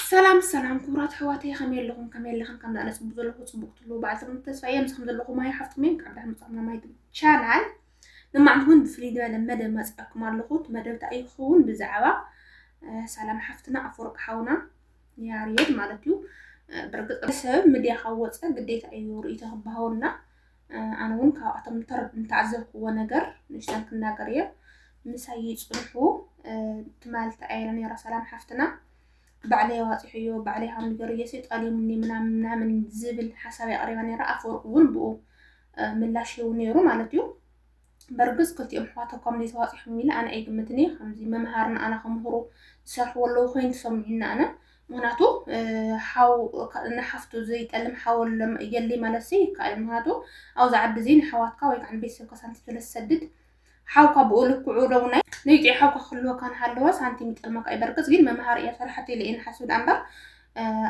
ሰላም ሰላም ክቡራት ኣሕዋተይ ከመይ ኣለኹም ከመይ ኣለኽን ከምዚ ኣነ ፅቡቅ ዘለኹ ፅቡቅ ትህልው በዓል ሰሙን ተስፋ እየ ምስኹም ዘለኹ ማይ ሓፍትኩም እየ ካብ ድሕር ምፅኹም ማይ ቻናል ንማዕንቲ እውን ብፍልይ ዝበለ መደብ መፅኣኩም ኣለኹ እቲ መደብ እንታይ እዩ ክኸውን ብዛዕባ ሰላም ሓፍትና ኣፈወርቂ ሓውና ያሬድ ማለት እዩ ብርግፅ ሰብ ምድያ ካብ ወፀ ግዴታ እዩ ርእይቶ ክበሃወና ኣነ እውን ካብኣቶም ዝተዓዘብክዎ ነገር ንእሽተን ክናገር እየ ምሳይ ይፅንሑ ትማል ተኣየለ ነይራ ሰላም ሓፍትና ባዕለይ ኣዋፂሐዮ ባዕለይ ሃም ገር እየሲ ጠልዩኒ ምናምን ምናምን ዝብል ሓሳብ ኣቕሪባ ነይራ ኣፈወርቅ እውን ብኡ ምላሽ ይህቡ ነይሩ ማለት እዩ በርግጽ ክልቲኦም ኣሕዋት እኳ ምዘይ ተዋጺሖም ኢለ ኣነ ኣይግምትን እየ ከምዚ መምሃር ንኣና ክምህሩ ዝሰርሕዎ ኣለዉ ኮይኑ ተሰሚዑኒ ኣነ ምክንያቱ ሓው ንሓፍቱ ዘይጠልም ሓው የለይ ማለት ሲ ይከኣል ምክንያቱ ኣብዚ ዓዲ እዚ ንሓዋትካ ወይ ከዓ ንቤተሰብካ ሳንቲም ስለ ዝሰድድ ሓውካ ብኡ ልክዑ ደው ናይ ነይጢ ሓውካ ክህልወካ ንሃለወ ሳንቲም ይጠልመካ እዩ በርግጽ ግን መምሃር እያ ሰርሓት ኢለ እየ ንሓስብ ዳኣ እምበር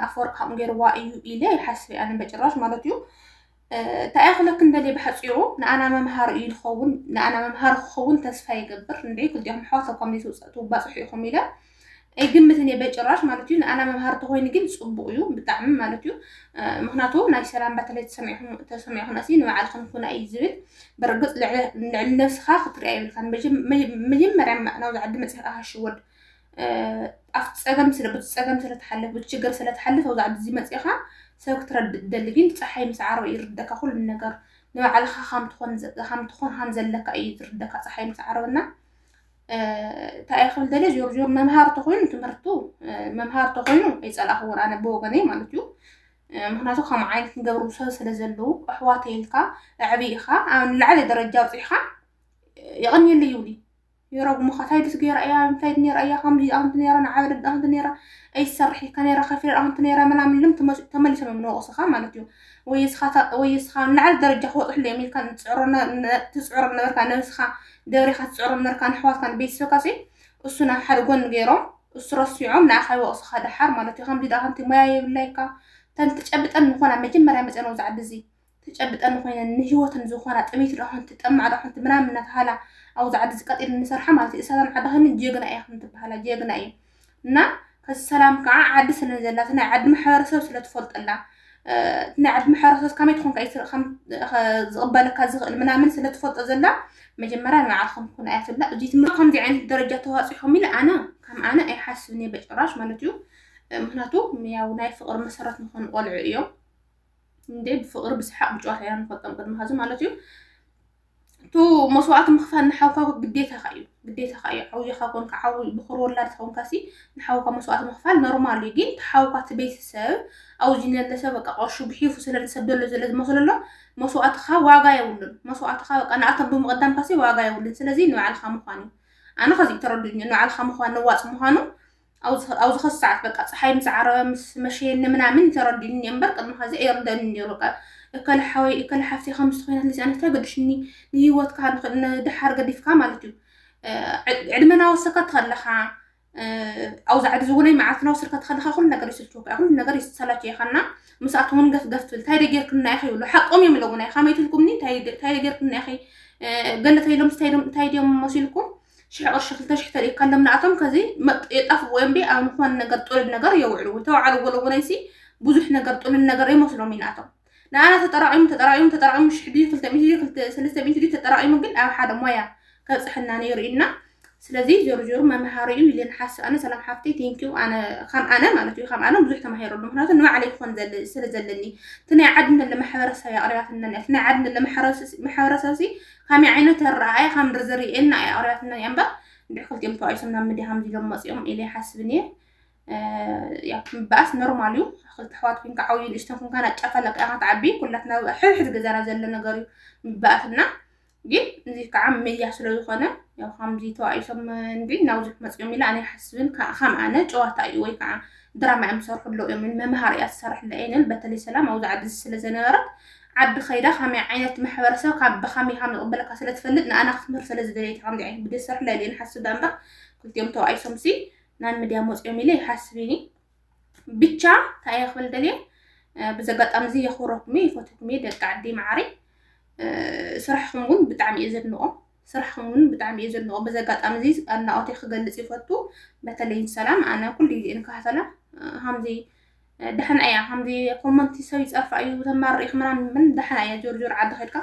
ኣፈወርቂ ከምኡ ገይርዋ እዩ ኢለ ይሓስብ ኣነ በጭራሽ ማለት እዩ እንታይ እየ ክብለክን ደልየ ብሓፂሩ ንኣና መምሃሪ እዩ ዝኸውን ንኣና መምሃሪ ክኸውን ተስፋ ይገብር እንደ ክልቲኦም ኣሕዋት ኣብ ኮሚኒቲ ውፅእቲ ባፅሑ ኢኹም ኢለ ኣይግምትን እየ በጭራሽ ማለት እዩ ንኣና መምሃሪ ተኮይኑ ግን ፅቡቅ እዩ ብጣዕሚ ማለት እዩ ምክንያቱ ናይ ሰላም ባተለይ ተሰሚዕኹም ኣሲ ንባዕልክን ኩና እዩ ዝብል ብርግፅ ልዕሊ ነብስካ ክትሪኣ ይብልካ መጀመርያ ናብዚ ዓዲ መፅካ ሽወድ ኣብቲ ፀገም ስለ በቲ ፀገም ስለ ትሓልፍ በቲ ችግር ስለ ትሓልፍ ኣብዚ ዓዲ እዚ መፂእኻ ሰብ ክትረድእ ትደሊ ግን ፀሓይ ምስ ዓረብ እዩ ዝርደካ ኩሉ ነገር ንባዕልኻ ከም ትኾን ከም ትኾን ከም ዘለካ እዩ ዝርደካ ፀሓይ ምስ ዓረብ እና እንታይ እየ ክብል ደልየ ዞር ዞር መምሃሪ ተኮይኑ ትምህርቱ መምሃሪ ተኮይኑ ኣይፀላእኽዎን ኣነ ብወገነይ ማለት እዩ ምክንያቱ ከም ዓይነት ንገብሩ ሰብ ስለ ዘለዉ ኣሕዋተይ ኢልካ ኣዕብኢኻ ኣብ ንላዕለ ደረጃ ኣብፂሕኻ የቐንየለይ ይብሉ ይረግሙኻ ታይ ድስ ገይራ እያ እንታይ ዶ ነይራ እያ ከምዚ እያ ከምዚ ነይራ ንዓ ወለዳ ከምዚ ነይራ ኣይ ትሰርሕ ኢልካ ነይራ ከፊለ ከምቲ ነይራ ምናምን ኢሎም ተመስ- ተመሊሶም እዮም ንወቕስኻ ማለት እዩ ወይ እስኻ ታ- ወይ እስኻ ንላዕሊ ደረጃ ክበፅሕሉ እዮም ኢልካ ንፅዕሮ ነ- ነ- ትፅዕሮ ነበርካ ነብስኻ ደብሪኻ ትፅዕሮ ነበርካ ንኣሕዋትካ ንቤተሰብካ ሲ እሱ ናብ ሓደ ጎኒ ገይሮም እሱ ረሲዖም ንዓኻ ይወቕስኻ ደሓር ማለት እዩ ከምዚ ድኣ ከምቲ ሞያ የብላይካ ተን ትጨብጠን ምኾና መጀመርያ መፅኤን ኣብዚ ዓዲ እዚ ትጨብጠኒ ኮይነን ንሂወተን ዝኾና ጥምይቲ ዶ ኾንቲ ጠማዕ ዶ ኾንቲ ምናምን እናተሃላ ኣብዚ ዓዲ እዚ ቀጢነን ንሰርሓ ማለት እዩ እሳተን ዓዲ ከይነን ጀግና ኢኽን ትበሃላ ጀግና እዩ እና ከዚ ሰላም ከዓ ዓዲ ስለን ዘላ እቲ ናይ ዓዲ ማሕበረሰብ ስለ ትፈልጠላ እቲ ናይ ዓዲ ማሕበረሰብ ከመይ ትኾንካ እዩ ከም ዝቕበለካ ዝኽእል ምናምን ስለ ትፈልጦ ዘላ መጀመርያ ንባዕልኹም ኩን ኣያ ትብላ እዚ ትምህርቲ ከምዚ ዓይነት ደረጃ ተዋፂኹም ኢለ ኣነ ከም ኣነ ኣይሓስብን እየ በጭራሽ ማለት እዩ ምክንያቱ ያው ናይ ፍቕሪ መሰረት ንኾኑ ቆልዑ እዮም እንዴ ብፍቅሪ ብሰሓቅ ብጨዋታ ኢና ንፈልጦም ቅድሚ ሀዚ ማለት እዩ እቱ መስዋእቲ ምኽፋል ንሓውካ ግዴታኻ እዩ ግዴታኻ እዩ ዓውያኻ ኮንካ ዓው ብኩር ወላድ ተኾንካ ሲ ንሓውካ መስዋእቲ ምኽፋል ኖርማል እዩ ግን ተሓውካ እቲ ቤተሰብ ኣብዚ ነለሰ በቃ ቀሹ ግሒፉ ስለ ዝሰደሎ ዘለ ዝመስለሎ መስዋእትኻ ዋጋ የብሉን መስዋእትኻ በቃ ንኣቶም ብምቕዳምካ ሲ ዋጋ የብሉን ስለዚ ንባዕልኻ ምዃን እዩ ኣነ ከዚ ተረዱኝ ንባዕልኻ ምዃን ነዋፅ ምዃኑ ኣብ ዝኸስ ሰዓት በቃ ፀሓይ ምስ ዓረበ ምስ መሸየኒ ምናምን ተረዲኡኒ እኔ እምበር ቅድሚ ኸዚ ኣይርደንን ነይሩ በቃ እከለ ሓወይ እከለ ሓፍተይ ከምዚ ኮይናት ልዚኣ እንታይ ገድሽኒ ንሂወትካ ንድሓር ገዲፍካ ማለት እዩ ዕድመ ናወሰካ ትኸለኻ ኣብ ዛዕዲ ዝውነይ መዓልቲ ናወሰድካ ትኸለኻ ኩሉ ነገር ይስልችወካ ኩሉ ነገር ይሰላቸየኻና ምስኣት እውን ገፍ ገፍ ትብል እንታይ ደጌርክና ኢኺ ይብሉ ሓቆም እዮም ኢሎምና ኢኻ መይትልኩምኒ እንታይ ደጌርክና ኢኺ ገለ ተይሎም እንታይ ድዮም መሲልኩም ሽሕ ቅርሺ ክልተ ሽሕ ተሪእካሎም ንኣቶም ከዚ የጣፍዎም ቢ ኣብ ዝኾነ ነገር ጥሉል ነገር የውዕልዎ ተባዕሉ ወለወለይሲ ብዙሕ ነገር ጥሉል ነገር የመስሎም እዩ ንኣቶም ንኣና ተጠራቂሙ ተጠራቂሙ ተጠራቂሙ ሽሕ ድዩ ክልተ ሚእቲ ድዩ ክልተ ሰለስተ ሚእቲ ድዩ ተጠራቂሙ ግን ኣብ ሓደ ሞያ ከብፅሐና ነይሩ ኢልና ስለዚ ዞሩ ዞሩ መምሃሪ እዩ ኢለን ሓስብ ኣነ ሰላም ሓፍተይ ቴንኪዩ ኣነ ከም ኣነ ማለት እዩ ከም ኣነ ብዙሕ ተማሂረሉ ምክንያቱ ንባዕለይ ክኾን ዘለ- ስለ ዘለኒ እቲ ናይ ዓዲ ንለ ማሕበረሰብ እያ ኣቅሪባትና እያ እቲ ናይ ዓዲ ንለ ማሕበረሰብ- ማሕበረሰብሲ ከመይ ዓይነት ኣረኣእያ ከም ዝርእየኒ ኣየቕርያትንን እያ እምበር እንድሕር ክልቲኦም ተባኢሶም ናብ ምድያ ከምዚ ኢሎም መፂኦም ኢለ ይሓስብ እኒየ ያው ምባኣስ ኖርማል እዩ ክልተ ኣሕዋት ኮንካ ዓብዩ ንእሽተን ኮንካ ናጫፈለካ ኢኻ ትዓቢ ኩላትና ሕድሕድ ገዛና ዘሎ ነገር እዩ ምባኣስና ግን እዚ ከዓ መያ ስለ ዝኾነ ያው ከምዚ ተባኢሶም እንዲ ናብዚ ክመፅኦም ኢለ ኣነ ይሓስብን ከም ኣነ ጨዋታ እዩ ወይ ከዓ ድራማ እዮም ዝሰርሑ ኣለዉ እዮም መምሃሪ እያ ዝሰርሕላ እየን በተለይ ሰላም ኣብዚ ዓዲ ስለ ዘነበረት ዓዲ ከይዳ ከመይ ዓይነት ማሕበረሰብ ካብ ብከመይ ከም ዝቕበለካ ስለ ትፈልጥ ንኣና ክትምህር ስለ ዝደለየት ከምዚ ዓይነት ቪድዮ ዝሰርሕ ለልየ ንሓስብ ዳ እምበር ክልቲኦም ተባኢሶም ሲ ናብ ምድያ መፅኦም ኢለ ይሓስብ ኢኒ ብቻ እንታይ እየ ክብል ደልየ ብዚ ኣጋጣሚ እዚ የኽብረኩም እየ ይፈትኩም እየ ደቂ ዓዲ መዓሪ ስራሕኹም እውን ብጣዕሚ እየ ዘድንቖም ስራሕኹም ውን ብጣዕሚ እየ ዘድንቆ በዚ ኣጋጣሚ እዚ ኣድናቆተይ ክገልፅ ይፈቱ በተለይ ንሰላም ኣነ ኩሉ ግዜ እየ ንከታተላ ከምዚ ደሕና እያ ከምዚ ኮመንቲ ሰብ ይፀርፋ እዩ ተማር ሪኢኽ ምናምን ምን ደሕና እያ ጆርጆር ዓዲ ከድካ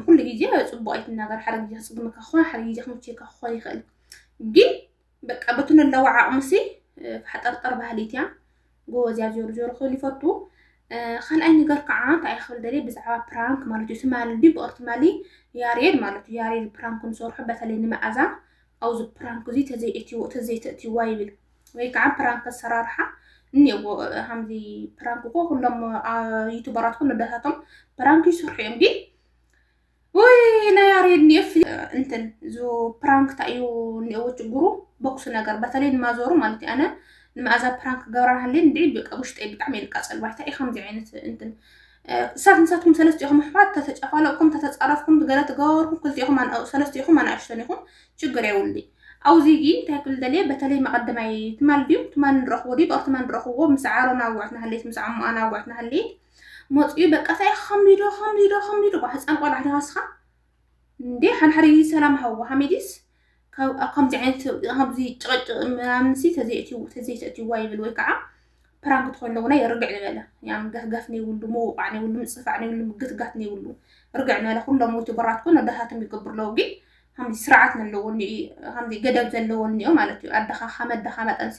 ኩሉ ግዜ ፅቡቅ ኣይትናገር ሓደ ግዜ ክፅግመካ ክኾን ሓደ ግዜ ክምችየካ ክኾን ይኽእል ግን በቃ በቲ ነለዎ ዓቕሙሲ ፋሕጠርጠር ባህሊት እያ ጎበዝ እያ ዞሩ ዞሩ ክብል ይፈቱ ካልኣይ ነገር ከዓ እንታይ ክብል ደልየ ብዛዕባ ፕራንክ ማለት እዩ ትማሊ እንዲ ብቕር ትማሊ ያሬድ ማለት እዩ ያሬድ ፕራንክ ንሰርሖ በተለይ ንመኣዛ ኣብዚ ፕራንክ እዚ ተዘይተእትይዋ ይብል ወይ ከዓ ፕራንክ ኣሰራርሓ እኒኦዎ ከምዚ ፕራንክ እኮ ኩሎም ዩቱበራት ኩሉ ደታቶም ፕራንክ ይሰርሑ እዮም ግን ውይ ናይ ያሬድ እኒኦስ እንትን እዚ ፕራንክ እንታይ እዩ እኒኦዎ ችግሩ ቦክስ ነገር በተለይ ንማዞሩ ማለት እዩ ኣነ ንመኣዛ ፕራንክ ክገብራ ሃልየ እንድዒ በቃ ውሽጠይ ብጣዕሚ እየ ልቃፀል ባይታ እዩ ከምዚ ዓይነት እንትን እሳት ንሳትኩም ሰለስቲኹም ኣሕዋት ተተጨፋለቕኩም ተተፃረፍኩም ገለ ትገበርኩም ክልቲኹም ሰለስቲኹም ኣናእሽተን ኢኹም ችግር የውሊ ኣውዚ ጊ እንታይ ክብል ደልየ በተለይ መቐደማይ ትማል ድዩ ትማል ንረኽቦ ድዩ ብኣር ትማል ንረኽቦ ምስ ዓሮን ኣዋዕትና ሃልየት ምስ ዓሞኣን ኣዋዕትና ሃልየት መጽዩ በቃ ታይ ኢካ ከምዚዶ ከምዚዶ ከምዚዶ ብ ህጻን ቆልዓ ድካ ንስካ እንዴ ሓድሓደ ግዜ ሰላም ሃብዎ ሓሚዲስ ካብ ኣብ ከምዚ ዓይነት ከምዚ ጭቅጭቅ ምናምን ሲ ተዘይእትይዎ ተዘይተእትይዋ ይብል ወይ ከዓ ፕራንክ ትኮይኑ እውን ርግዕ ንበለ ያም ገፍገፍ ነይብሉ ምውቃዕ ነይብሉ ምጽፋዕ ነይብሉ ምግትጋት ነይብሉ ርግዕ ንበለ ኩሎም ዩቱበራት ኮን ኣደታቶም ይገብሩ ኣለዉ ግን ከምዚ ስርዓት ዘለዎ ከምዚ ገደብ ዘለዎ እኒኦ ማለት እዩ ኣደኻ ከም ኣደኻ መጠንሲ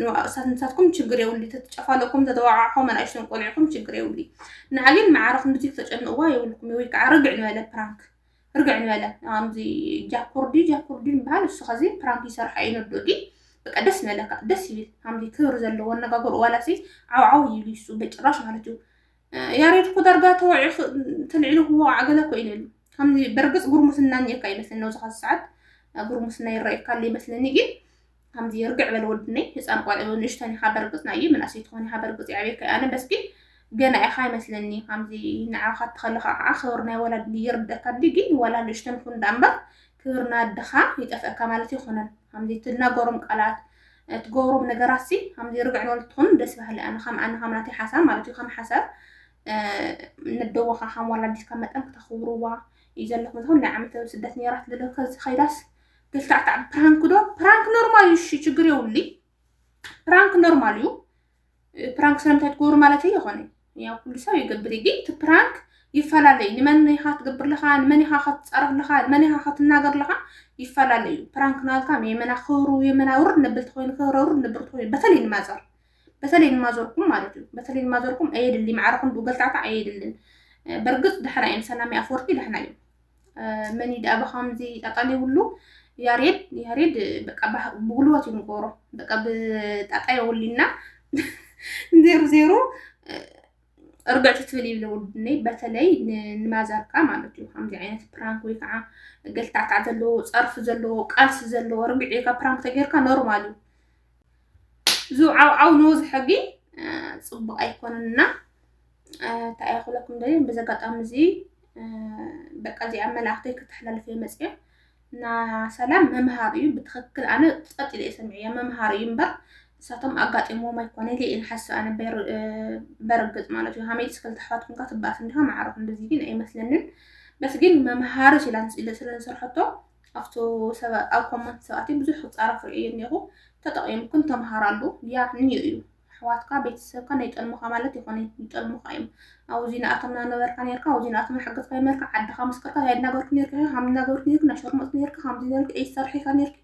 ንዋእሳት ንሳትኩም ችግር የብሉ ተትጨፋለኩም ተተዋዓዕኹም ኣናእሽተን ቆልዕኹም ችግር የብሉ ንዓ ግን መዓረ ክንድዚ ክተጨንቕዋ የብልኩም ወይ ከዓ ርግዕ ንበለ ፕራንክ ርግዕ ንበለ ኣምዚ ጃኩርዲ ጃኩርዲ ንበሃል እሱ ከዚ ፕራንክ ይሰርሓ እዩ ነዶ ዲ በቃ ደስ ንበለካ ደስ ይብል ኣምዚ ክብሪ ዘለዎ ኣነጋገሩ ዋላሲ ዓውዓው ይብል እሱ በጭራሽ ማለት እዩ ያሬድ እኮ ዳርጋ ተወዒ ተልዒሉ ክወቃዕ ገለ እኮ ኢሉ ከምዚ በርግፅ ጉርሙስና እኒኤካ ይመስለኒ ኣብዚ ካዚ ሰዓት ጉርሙስና ይረኣየካ ኣሎ ይመስለኒ ግን ከምዚ ርግዕ በል ወድነይ ህፃን ቆልዑ ንእሽተን ኢኻ በርግፅ ናይ ምናእሰይ ትኾን ኢኻ በርግፅ የዕብየካ ኣነ በስ ግን ገና ኢኻ ይመስለኒ ከምዚ ንዓኻ ተኸለኻ ከዓ ክብር ናይ ወላድ ይርደካ እንዲ ግን ወላ ንእሽተን ኩን ዳ እምበር ክብር ናድኻ ይጠፍእካ ማለት ይኹነን ከምዚ ትናገሮም ቃላት ትገብሮም ነገራት ሲ ከምዚ ርግዕ በል ትኹን ደስ ባህሊ ኣነ ከም ኣነ ከም ናተይ ሓሳብ ማለት እዩ ከም ሓሳብ ነደወኻ ከም ወላዲትካ መጠን ክተኽብርዋ እዩ ዘለኩም ዝኹን ናይ ዓመተ ስደት ነራት ልልከ ዝኸይዳስ ተሽካዕካዕ ፕራንክ ዶ ፕራንክ ኖርማል እዩ። እሺ ችግር የውሊ ፕራንክ ኖርማል እዩ። ፕራንክ ስለምንታይ ትገብሩ ማለት ይኾነ ያው ኩሉ ሰብ ይገብር እዩ። ግን እቲ ፕራንክ ይፈላለዩ ንመን ኢኻ ትገብር ለኻ ንመን ኢኻ ከትፀርፍ ለኻ ንመን ኢኻ ከትናገር ለኻ ይፈላለዩ። ፕራንክ ናልካ የመና ክብሩ የመና ውርድ ነብልቲ ኮይኑ ክብረ ውርድ ነብልቲ ኮይኑ በተለይ ንማዘር በተለይ ንማዘርኩም ማለት እዩ። በተለይ ንማዘርኩም ኣየድሊ ማዕረኹም ብገልታዕታ ኣየድልን። በርግፅ ደሕና እዮም ሰላም ኣፈወርቂ ደሕና እዮም። መን እዩ ደኣ ብከምዚ ጠጠሊብሉ ያሬድ ያሬድ በቃ ብጉልበት እዩ ንገብሮ በቃ ብጣጣ የውሊና ዜሩ ዜሩ እርግዕቲ ትብል ይብለ ውድነይ በተለይ ንማዘርካ ማለት እዩ ከምዚ ዓይነት ፕራንክ ወይ ከዓ ገልታዕታዕ ዘለዎ ፀርፊ ዘለዎ ቃልሲ ዘለዎ ርግዒ ኢልካ ፕራንክ ተጌርካ ኖርማል እዩ ዝውዓውዓው ንውዝ ሕጊ ፅቡቅ ኣይኮነን እና እንታይ እያ ክብለኩም ደልየ በዚ ኣጋጣሚ እዚ በቃ እዚኣ መልእክተይ ክተሕላልፍ እየ መፅየ እና ሰላም መምሃሪ እዩ ብትክክል ኣነ ፀጥ ኢለ ሰሚዐ እያ መምሃሪ እዩ እምበር እሳቶም ኣጋጢሞም ኣይኮነ ኢለ እየ ንሓስብ ኣነ በርግፅ ማለት እዩ ሃመይትስ ክልተ ኣሕዋት ኩንካ ትባኣስ እንዲኻ ማዕረኹ እንደዚ ግን ኣይመስለንን በስ ግን መምሃሪ ስለ ዝሰርሐቶ ኣብቱ ሰበ ኣብ ኮመንት ሰባቲ ብዙሕ ክጻረፍ ርእየ እኔኹ ተጠቂምክን ተምሃራሉ ያ ኒዩ እዩ ኣሕዋትካ ቤተሰብካ ናይ ጠልሙኻ ማለት ይኾነይ ይጠልሙኻ እዮም ኣውዚ ንኣቶም ናነበርካ ኔርካ ኣውዚ ንኣቶም ናሓገዝካ ኔርካ ዓድኻ መስከርካ ታይ ናገርኩ ኔርካ ሃም ናገርኩ ኔርኩ ናሸርሙጥ ኔርካ ሃምዚ ኔርኩ ኤይ ሰርሒካ ኔርኩ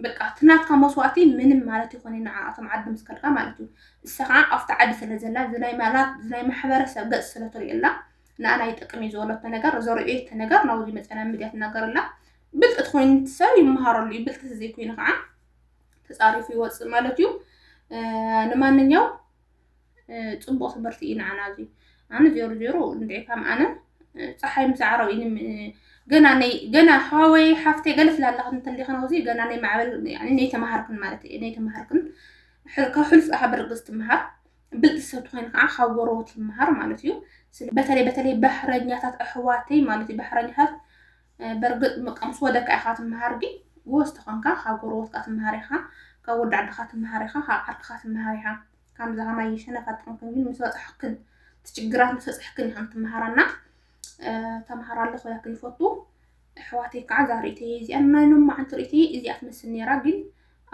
በቃ እቲ ናትካ መስዋእቲ ምንም ማለት ይኾነ ንዓኣቶም ዓዲ ምስ ከድካ ማለት እዩ እሳ ከዓ ኣብቲ ዓዲ ስለ ዘላ ዝናይ ማላት ዝናይ ማሕበረሰብ ገፅ ስለ ትሪእላ ንኣና ይጠቅም እዩ ዝበለቶ ነገር ዘርእየቶ ነገር ናብኡ ዝመፀና ሚድያ ትናገር ኣላ ብልጥት ኮይኑ ሰብ ይመሃረሉ እዩ ብልጥት ዘይኮይኑ ከዓ ተፃሪፉ ይወፅእ ማለት እዩ ንማንኛው ፅቡቅ ትምህርቲ እዩ ንዓና እዚ ኣነ ዜሮ ዜሮ እንድዒ ካም ኣነ ፀሓይ ምስ ዓረብ እዩ ገና ነይ ገና ሓወይ ሓፍተይ ገለ ስላለኽን እንተሊኽን ኣብዚ ገና ነይ ማዕበል ነይ ተምሃርክን ማለት እዩ ነይ ተምሃርክን ካብ ሕሉፍ ብርግፅ ትምሃር ብልጽቲ ሰብ ትኾይኒ ከዓ ካብ ጎረቦት ይመሃር ማለት እዩ። በተለይ በተለይ ባሕረኛታት ኣሕዋተይ ማለት እዩ ባሕረኛታት በርግጥ በቃ ምስ ወደካ ኢኻ ትመሃር ግን ጎበዝ ተኾንካ ካብ ጎረቦትካ ትመሃር ኢኻ ካብ ወዲ ዓድኻ ትመሃር ኢኻ ካብ ዓርክኻ ትመሃር ኢኻ ከምዚ ከማይ ሸነፋት ጥንክን ግን ምስ በፃሕክን ትችግራት ምስ በፃሕክን ኢኸን ትመሃራና ተምሃር ኣለኹ ያክል ይፈቱ ኣሕዋተይ ከዓ እዛ ርእተይ እዚኣ ናይ ሎማዓንቲ ርእተይ እዚኣ ትመስል ነይራ ግን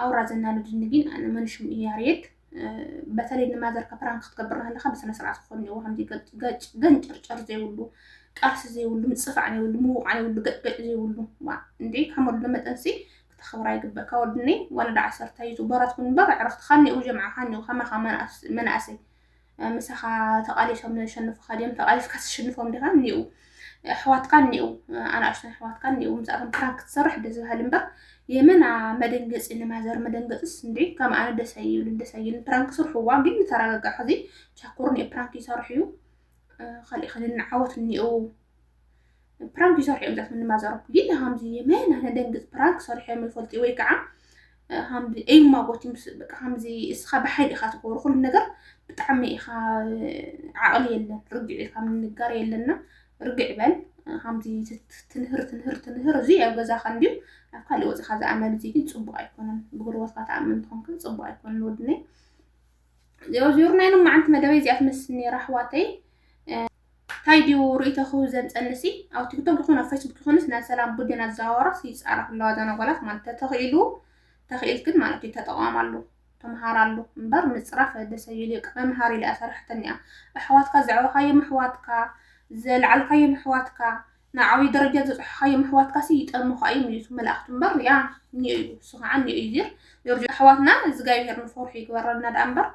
ኣውራ ዘናልድኒ ግን ኣነ መንሽም እዩ ያሬድ በተለይ ንማዘርካ ፕራንክ ክትገብር ከለካ ብስነስርዓት ክኾን እኒዎ ከምዚ ገጭ ገጭ ገንጨርጨር ዘይብሉ ቃልሲ ዘይብሉ ምፅፋዕ ዘይብሉ ምውቃዕ ዘይብሉ ገጭገጭ ዘይብሉ ዋ እንዴ ከም ወድነ መጠንሲ ክተኽብራ ይግበካ ወድኒ ወለዳ ዓሰርተ እዩ ዝበራት ኩን እምበር ዕረኽትካ እኒኡ ጀምዓኻ እኒኡ ከማኻ መናእሰይ ምሳኻ ተቓሊሶም ዘሸንፉኻ ድዮም ተቓሊስካ ትሽንፎም ዲኻ እኒኡ ኣሕዋትካ እኒኡ ኣናእሽተን ኣሕዋትካ እኒኡ ምስኣቶም ፕራንክ ክትሰርሕ ደስ በሃሊ እምበር የመና መደንገፂ ንማዘር መደንገፅስ እንዲ ከም ኣነ ደስ ኣይብልን ደስ ኣይብልን ፕራንክ ስርሕዋ ግን ንተረጋጋዕ ሕዚ ቻኮር እኒኦ ፕራንክ ይሰርሕ እዩ ካልእ ከ ንዓወት እኒኡ ፕራንክ ይሰርሑ እዮም ዛት ንማዘሮም ግን ከምዚ የመና ነደንግፅ ፕራንክ ሰርሑ እዮም ይፈልጡ ወይ ከዓ ከምዚ ኤማ ቦቲ ምስ በቃ ከምዚ እስኻ ብሓይሊ ኢኻ ትገብሮ ኩሉ ነገር ብጣዕሚ ኢኻ ዓቕሊ የለን ርግዕ ኢልካ ምንጋር የለና ርግዕ በል ከምዚ ትንህር ትንህር ትንህር እዚ ኣብ ገዛኻ እንድዩ ኣብ ካልእ ወፅኻ ዝኣመል እዚ ግን ፅቡቅ ኣይኮነን ብጉርበትካ ትኣምን ትኾንከ ፅቡቅ ኣይኮነን ወድነይ ዜሮ ዜሮ ናይ ሎማዓንቲ መደበይ እዚኣ ትመስል ነይራ ኣሕዋተይ ታይ ድዩ ርእይቶ ክህብ ዘምፀኒ ሲ ኣብ ቲክቶክ ይኹን ኣብ ፌስቡክ ይኹንስ ናይ ሰላም ቡድን ኣዘዋዋራስ ይፃረፍ ኣለዋ እዘን ኣጓላት ማለት ተተኺኢሉ ተኺኢልክን ማለት እዩ ተጠቋማሉ ተምሃራሉ እምበር ምፅራፍ ደስ ኣይብል እዩ መምሃሪ ኢለ እያ ሰሪሐተኒያ ኣሕዋትካ ዘዕበኻዮም ኣሕዋትካ ዘልዓልካዮም ኣሕዋትካ ንዓብይ ደረጃ ዘጽሖኻዮም ኣሕዋትካሲ ይጠርኑኻ እዮም ኢየሱስ መላእኽቲ እምበር ሪኣ እኒኦ እዩ እሱ ኸዓ እኒኦ እዩ እዚር ዮርጆ ኣሕዋትና እዝጋብሄር ንፈርሑ ይግበረልና ዳኣ እምበር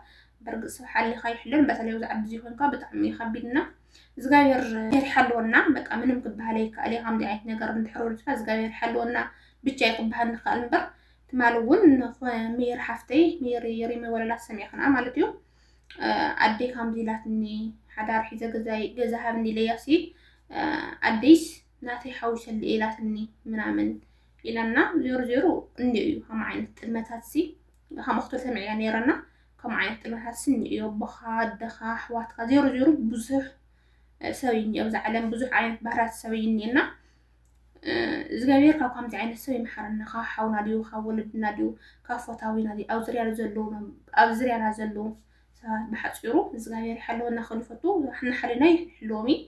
በርግጽ ሰብ ሓሊኻ ይሕሎን በተለይ ኣብዚ ዓዲ እዚ ኮንካ ብጣዕሚ እዩ ከቢድ እና እዝጋብሄር ይሓልወና በቃ ምንም ክበሃል ኣይከኣል እዩ ከምዚ ዓይነት ነገር እንድሕር ወሪድካ እዝጋብሄር ይሓልወና ብቻ እዩ ክበሃል ንክኣል እምበር ትማሊ እውን ሜሪ ሓፍተይ ሜሪ ሪመ ወለላ ሰሚዕክና ማለት እዩ ኣደይ ካምዚ ኢላትኒ ሓዳር ሒዘ ገዛይ ገዛ ሃብኒ ኢለያሲ ኣደይስ ናተይ ሓዊሰሉ ኢላትኒ ምናምን ኢላና ዜሮ ዜሮ እንዲ እዩ ከም ዓይነት ጥልመታት ሲ ከም ኣክቶ ሰምዕያ ነይረና ከም ዓይነት ጥልመታት ሲ እንዲ እዩ ኣቦኻ ኣደኻ ኣሕዋትካ ዜሮ ዜሮ ብዙሕ ሰብ እዩ ኣብዚ ዓለም ብዙሕ ዓይነት ባህርያት ሰብ እዩ እኒኤና እግዚኣብሔር ካብ ከምዚ ዓይነት ሰብ ይምሓረና ካብ ሓውና ድዩ ካብ ወለድና ድዩ ካብ ፎታዊና ድዩ ኣብ ዝርያና ዘለዉ ኣብ ዝርያና ዘለዉ ሰባት ብሓፂሩ እግዚኣብሔር ይሓለወና ክብል ይፈቱ ንሓልና ይሕልዎም እዩ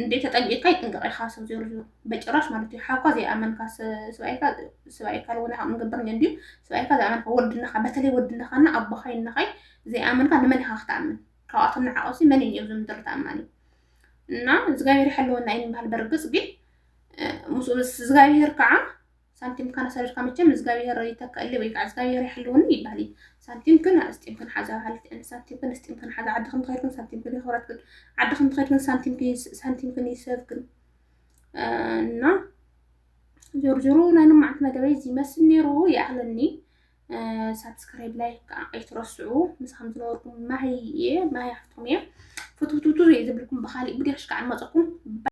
እንዴ ተጠንቂቕካ ይጥንቀቕ ኢኻ ሰብ ዜሩ ዜሩ በጭራሽ ማለት እዩ ሓኳ ዘይኣመንካ ስብኣይካ ስብኣይካ ለወነ ካብ ንገብር እንዲዩ ስብኣይካ ዘይኣመንካ ወድነኻ በተለይ ወድነኻና ኣቦኻይ እነኻይ ዘይኣመንካ ንመን ኢኻ ክትኣምን ካብኣቶም ንዓቐብሲ መን እዩ እብዚ ምድሪ ተኣማኒ እና እግዚኣብሔር ይሓልወና እዩ ንበሃል በርግፅ ግን ምስ እግዚኣብሔር ከዓ ሳንቲም ካና ሰሪርካ መቸም እግዚኣብሔር ይተከእሊ ወይ ከዓ እግዚኣብሔር ይሓልወኒ ይበሃል እዩ ሳንቲም ግን ኣስጢም ክንሓዛ በሃልቲ እን ሳንቲም ግን ኣስጢም ክንሓዛ ዓዲ ክን ትኸይድ ግን ሳንቲም ግን ይኸብረት ግን ዓዲ ክን ትኸይድ ግን ሳንቲም ግን ሳንቲም ግን ይሰብ ግን እና ዞርዞሮ ናይ ንማዓት መደበይ እዚ መስል ነይሩ ይኣኽለኒ ሳብስክራይብ ላይክ ከዓ ኣይትረስዑ ምሳኹም ዝነበርኩም ማሂ እየ ማሂ ሓፍትኩም እየ ፍትውትውቱ ዘይዝብልኩም ብካሊእ ብድያሽ ከዓ ንመፀኩም